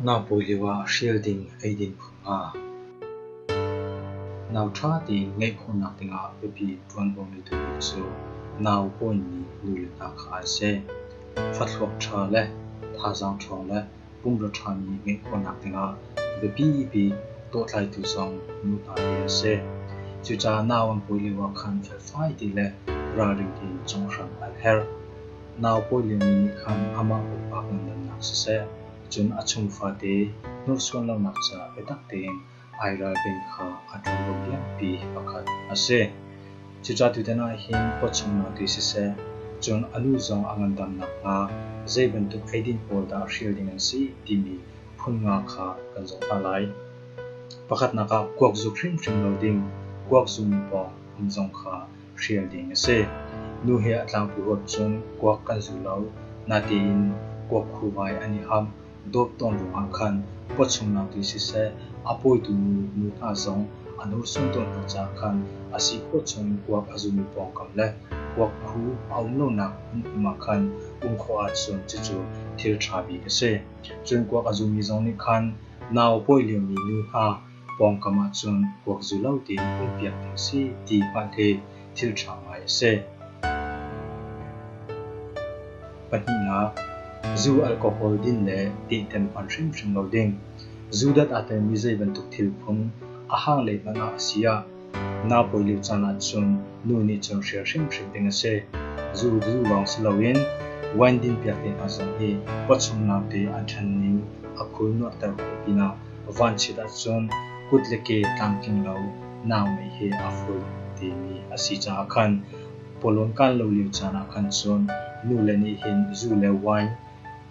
Nangbawi lio ah hrial ding eidin phun nga. Nau ṭha tein ngeih khawhnak ding ah biapi ṭuan bawmmi tu hi cu nau pawnmi nu le pa kha an si. Fathlawk ṭha le thazaang ṭhawng le pumrua ṭhami ngeih khawhnak dingah biapi bik dawhtlaitu zong nu hna hi an si. Cucaah nau an pawi lio ah khan felfai ti le ralring tein conghhram an herh. Nau pawi liomi nih khan amah pumpak ngandamnak siseh, cun a chung fate hnursuan lonak ca biatak tein ai ralrin kha a ṭhalo lianpi pakhat a si. Cucaah tutan ah hin pawchungnak ti siseh, cun a lu zong a ngandam nakhnga zei bantuk eidin pawl dah hrial ding an si timi phun nga kha kan zoh hna lai. Pakhatnak ah kuak zuk hrimhrim lo ding, kuak zung pawng hmun zong kha hrial ding a si. Nu he a tlangpu huap cun kuak kan zu lo, natein kuak khu ngai an i ham. dawt tawn ruangah khan khua chungnak ti siseh, a pawitu nu hna zong a hnorsuan tawn hna caah khan a si khua chungin kuak a zumi pawngkam le kuak a hu a um lonak hmunhim ah khan um khawh ahcun cucu thil ṭha bik a si. Cun kuak a zumi zong nih khan nau a pawi liomi nu hna pawngkam ahcun kuak zu lo tiin kulhpiak ding si ti hmanh hi thil ṭha ngai a si. Pahnihnak, zu alcohol din le tehtem hman hrimhrim lo ding. Zu dat aa telmi zei bantuk thil phun a hang lei hmanh ah a si ah Naupawi lio caan ahcun nu nih cun hrial hrimhrim ding a si. Zu zu lawng si loin wine dinpiak te hna zong hi pawchungnak te an ṭhanning a khul nuahter khawh pinah vanchiat ahcun kut le ke tlamtling lo nau mei hi a fut timi a si caah khan pawlawn kaan lo lio caan ah khan cun nule nih hin zu le wine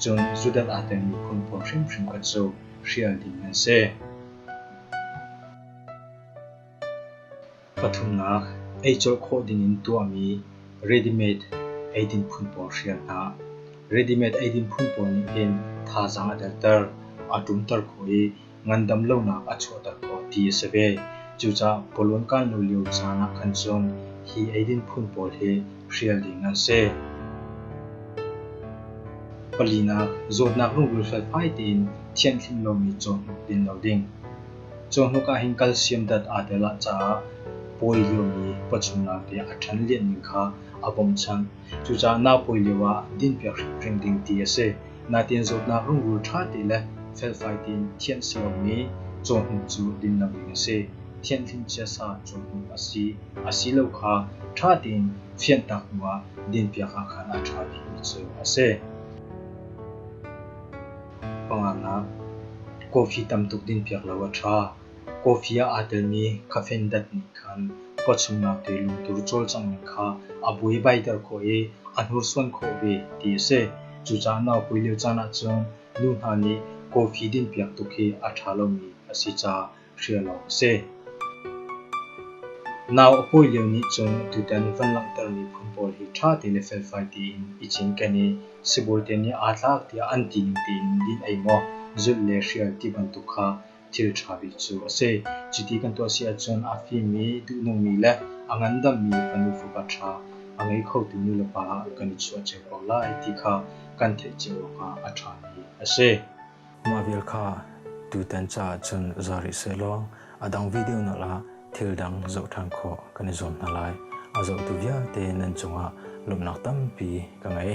cun zudat aa telmi phunphun hrimhrim kha cu hrial ding an si. Pathumnak, ei colh khawh dingin tuahmi ready-made eidin phun pawl hrial hna. Ready-made eidin phun pawl nih hin thazaang a derter, a ṭumter khawh i ngandam lonak a chuahter khawh ti a si ve. Cucaah pawlon kan lo lio caan ah khan cun hi eidin phun pawl hi hrial ding an si. Palinak, zawtnak rungrul felfai tein thianhhlim lomi caw hnuk din lo ding. Cawhnuk ahhin calcium dat aa tel ah caah pawi liomi pawchunnak te a ṭhan lianh ning kha a bawmchanh. Cucaah naa pawi lio ah dinpiak hrimhrim ding ti a si. Nain zawtnak rungrul ṭha te le felfai tein thianh a si lomi cawhnuk cu dinlam ding a si. Thianhlim chiasa cawhnuk a si asilo kha ṭha tein fianhtak hnu ah dinpiak ahkhan a ṭha bikmi cu a si. Panganak, Coffee tamtuk dinpiak lo a ṭha. Coffee ah aa telmi caffeine dat nih khan pawchungnak te lungtur cawlcanghning kha a buaibaiter khawh i a hnursuan khawh ve ti a si. Cucaah naupui lio caan ahcun nu hna nih coffee dinpiak tuk hi a ṭha lomi a si caah hrial awk a si. Nau a pawi lio nih cun tutan van langhtermi phun pawl hi ṭha tein le felfai tein i cinken i sibawi te nih aa tlak tiah an ti ning tein din ei maw, zulh le hrial ti bantuk kha thil ṭha bik cu a si. Cuti kan tuah si ahcun a fimmi, duhnungmi le a ngandammi fanu fapa ṭha a ngei khotu nulepa ah kan i chuah cio ko lai ti kha kan theih cio awkah a ṭhami a si. Mah vial kha tutan caah cun za rih sehlaw a dang video nak ah thil dang zoh ṭhan khawh kan i zuam hna lai. A zohtu vialte nan cungah lawmhnak tampi ka ngei.